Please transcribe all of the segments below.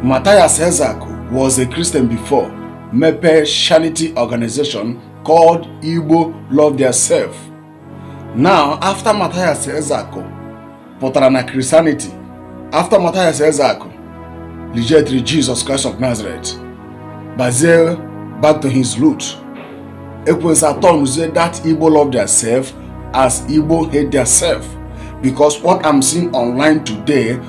Matthias Ezeaku was a Christian before mepee charity organization called Igbo Love Their Self. Now after Matthias Ezeaku pụtara na Christianity after Matthias Ezeaku rejected Jesus Christ of Nazareth bazie back to his root ekwensu atọnuzie that Igbo love their self as Igbo hate their self because what I'm seeing online today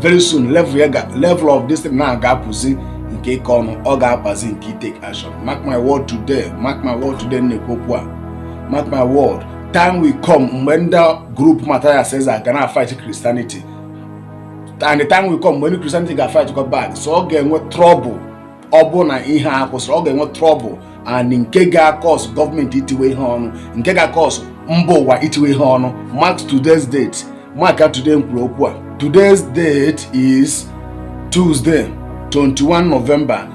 very soon level ya ga level of this thing na ga-apụzi nke ịkọ ọnụ ọ ga-akpazi nke ịtake action mark my word today mark my word today m na-ekwu okwu a mark my word time will come mgbe ndị group Matthias Eze ga na-afight Christianity and the time will come mgbe ndị Christianity ga fight go back so ọ ga-enwe trouble ọ bụ na ihe a akwụsịrọ ọ ga-enwe trouble and nke ga-cause gọọmenti itiwe ihe ọnụ nke ga-cause mba ụwa itiwe ihe ọnụ mark today's date maka today m kwuru okwu a today's date is Tuesday 21 November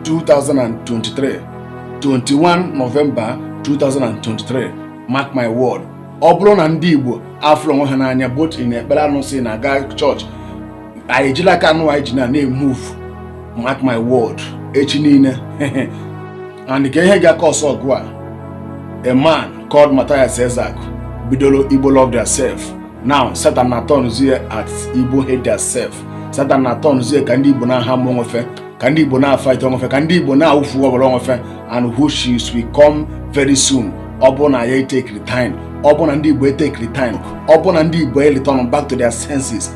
2023 21 November 2023 mark my word ọ bụrụ na ndị Igbo afụrọ onwe ha n'anya both ndị na-ekpere arụsị na-aga chọọchị anyị ejila aka anụ anyị ji na-emove mark my word echi niile and nke ihe ga-cause ọgụ a a man called Matthias Ezeaku bidoro Igbo love theirself now Satan na turnzie at Igbo hate theirself Satan na turnzie ka ndị Igbo na-aharm onwe fe ka ndị Igbo na-afight onwe fe ka ndị Igbo na-awụfu ọbara onwe fe and which will come very soon ọ bụ na ya etekirọ time ọ bụ na ndị Igbo etekirọ time ọ bụ na ndị Igbo ereturn back to their senses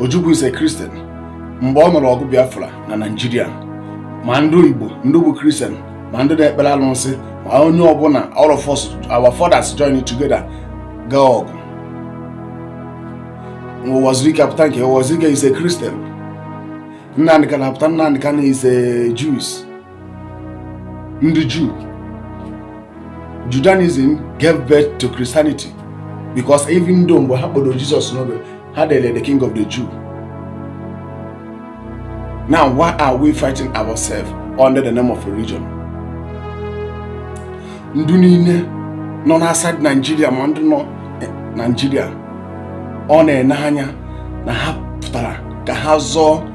Ojukwu is a Christian mgbe ọ nụrụ ọgụ Biafra na Naịjirịa ma ndị Igbo ndị bụ Christian ma ndị na-ekpere alụsị ma onye ọbụla all of us our fathers join together gaa ọgụ Uwazuruike apụta nke Uwazuruike is a Christian Nnamdi Kanu apụta Nnamdi Kanu is a Jews ndị Juu Judaism gave birth to Christianity because even though mgbe ha kpọrọ Jesus n'obe ha dere the king of the Jew now why are we fighting ourselves under the name of religion ndị niile nọ n'outside Nigeria ma ndị nọ Nigeria ọ na-ene anya na ha pụtara ka ha zọọ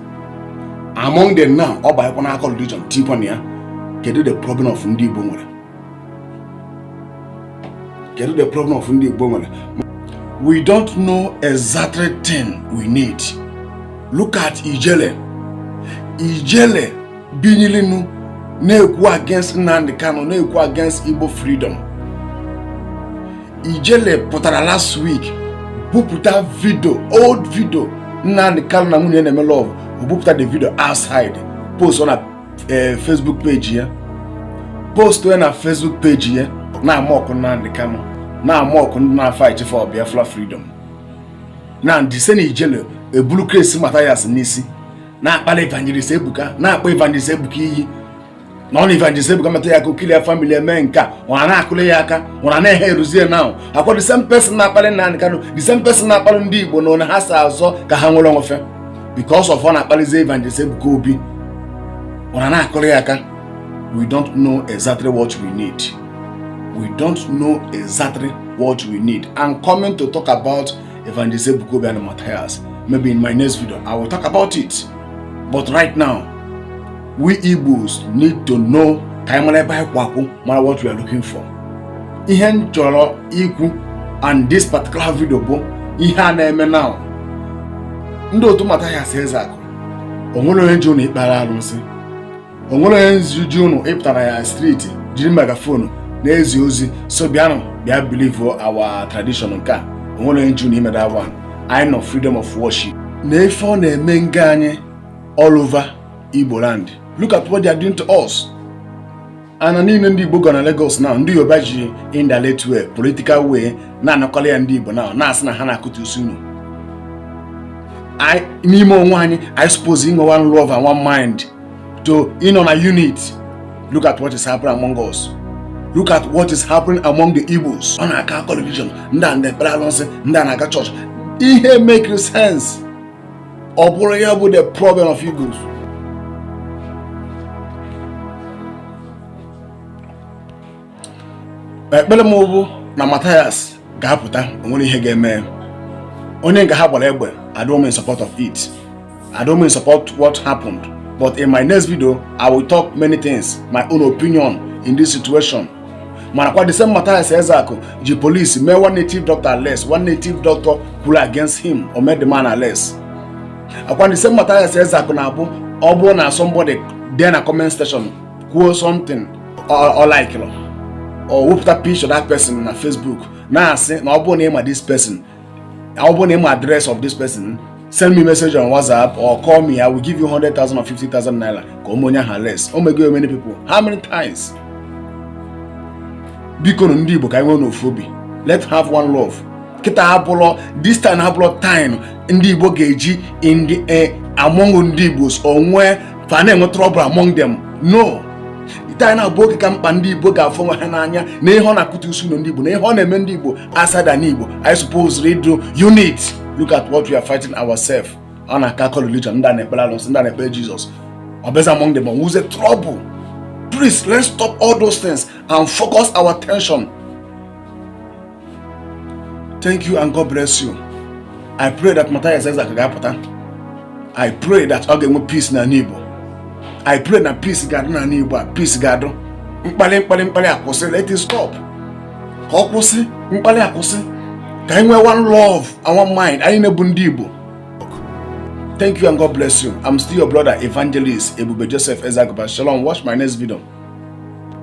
among them now ọ banyekwa n'aka religion tikwa na ya kedu the problem of ndị Igbo nwere kedu the problem of ndị Igbo nwere we don't know exactly thing we need look at Ijele Ijele binilinu na-ekwu against Nnamdi Kanu na-ekwu against Igbo freedom Ijele pụtara last week bupụta vidio old vidio Nnamdi Kanu na nwunye na-eme love o bupụta the video outside post na eh, Facebook page ya post ya na Facebook page ya na-amock Nnamdi Kanu na-amock ndị na-fight for Biafra freedom na this same Ijele ebulu crazy Matthias n'isi na-akpali evangelist ebuka na-akpọ evangelist ebuka iyi na ọ na evangelist ebuka meta ya aka ọ kill ya family eme nke a unu na-akụlụ ya aka ọ na-ehe eruzie now ọkwa the same person na-akpali nnamdi kanu the same person na-akpali ndị igbo na onye ha si azọ ka ha nwere onwe fe because of ọ na-akpalizi evangelist ebuka obi unu na-akụlụ ya aka we don't know exactly what we need we don't know exactly what we need i'm coming to talk about Evangelist Ebuka Obi and Matthias. Maybe in my next video, I will talk about it. But right now, we Igbos need to know ka anyị mara ebe anyị kwụ akwụ mara what we are looking for. Ihe m chọrọ ikwu and this particular video bụ ihe a na-eme now. Ndị otu Matthias Ezeaku, o nwere onye ji unu ikpere alụsị. o nwere onye ji unu ịpụtara ya street jiri megaphone na-ezi ozi so bịanụ bịa believe our tradition nke a o nwere onye ji unu ime that one anyị nọ freedom of worship na ife ọ na-eme nga anyị all over Igbo land look at what they are doing to us ana niile ndị Igbo gọ na Lagos now ndị Yoruba ji indirect way political way na-anakọla ya ndị Igbo now na-asị na ha na-akụtusi ụnọ n'ime onwe anyị anyị suppose inwe one love and one mind to ịnọ na unit look at what is happening among us look at what is happening among the Igbos ọ na-aka akọ religion ndị a na-ekpere alụsị ndị a na-aga church ihe make sense ọ bụrụ ya bụ the problem of Igbos ekpere m bụ na Matthias ga-apụta o nwerọ ihe ga-eme onye nga ha gbara egbe I don't mean support of it I don't mean support what happened but in my next video I will talk many things my own opinion in this situation mana ọkwa the same Matthias Ezeaku ji police mee one native doctor arrest one native doctor kwuru against him o mee the man arrest ọkwa the same Matthias Ezeaku na-abụ ọ bụrụ na somebody dee na comment section kwuo something ọ likelọ ọ wepụta picture that person na Facebook na-asị na ọ bụrụ na ịma this person ọ bụrụ na ịma address of this person send me message on WhatsApp or call me I will give you 100,000 or 50,000 naira ka o mee onye ahụ arrest o mego many people how many times bikonu ndị Igbo ka anyị nweenu ofu obi let's have one love kịta abụlọ this time abụlọ time ndị igbo ga-eji ndị e, among ndị igbo onwe fa na-enwe trouble among them no time na-abụ oge ka mkpa ndị igbo ga-afụ onwe ha n'anya na ihe a na-akụtusi ụnọ ndị igbo na ihe a na-eme ndị igbo outside ana igbo anyị suppose ịdị unit look at what we are fighting ourselves ọ na-akakọ religion ndị a na-ekpere alụsị ndị a na-ekpere jesus ọ bụzi among them enwezie trouble please let's stop all those things and focus our attention thank you and God bless you I pray that Matthias Ezeaku ga-apụta I pray that ọ ga-enwe peace n'anị Igbo I pray na peace ga-adị n'anị Igbo peace ga-adị mkpali mkpali akwụsị let it stop ka ọ kwụsị mkpali akwụsị ka anyị nwee one love and one mind anyị niine bụ ndị Igbo thank you and God bless you I'm still your brother evangelist Ebube Joseph Ezagaba shalom watch my next video